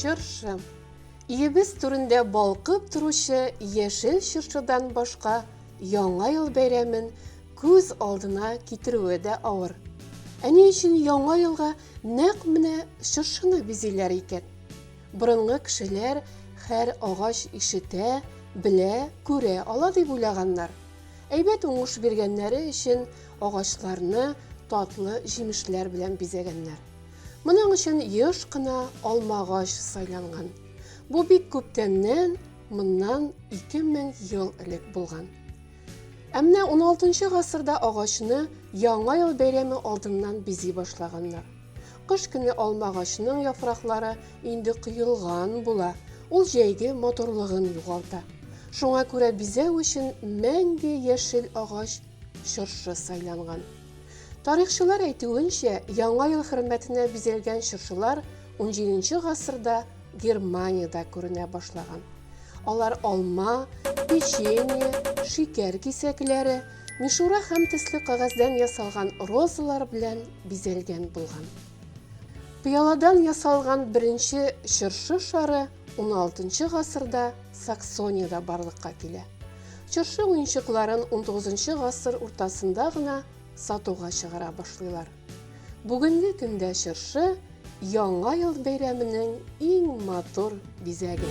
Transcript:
чыршы Иебез түрендә балкып торучы яшел чыршыдан башка яңа ел бәйрәмен күз алдына китерүе дә авыр. Әни өчен яңа елга Нәкъ менә чыршыны бизиләр икән. Борынгы кешеләр һәр агач ишетә, белә, күрә ала дип уйлаганнар. Әйбәт уңыш биргәннәре өчен агачларны татлы җимешләр белән бизәгәннәр. Моның өчен еш кына алмагач сайланган. Бу бик күптәннән, моннан 2000 ел элек булган. Ә менә уналтынчы гасырда агачны Яңа ел бәйрәме алдыннан бизи башлаганнар. Кыш көне алма агачының яфраклары инде коелган була, ул җәйге матурлыгын югалта. Шуңа күрә бизәү өчен мәңге яшел агач чыршы сайланган. Тарихчылар әйтүенчә, Яңа ел хөрмәтенә бизәлгән чыршылар унҗиденче гасырда Германиядә күренә башлаган. Алар алма, печенье, шикәр кисәкләре, мишура һәм төсле кагаздан ясалган розалар белән бизәлгән булган. Пыяладан ясалган беренче чыршы шары 16 гасырда Саксониядә барлыкка килә. Чыршы уенчыкларын 19 гасыр уртасында гына сатуга чыгара башлыйлар. Бүгенге көндә чыршы Яңа ел бәйрәменең иң матур бизәге.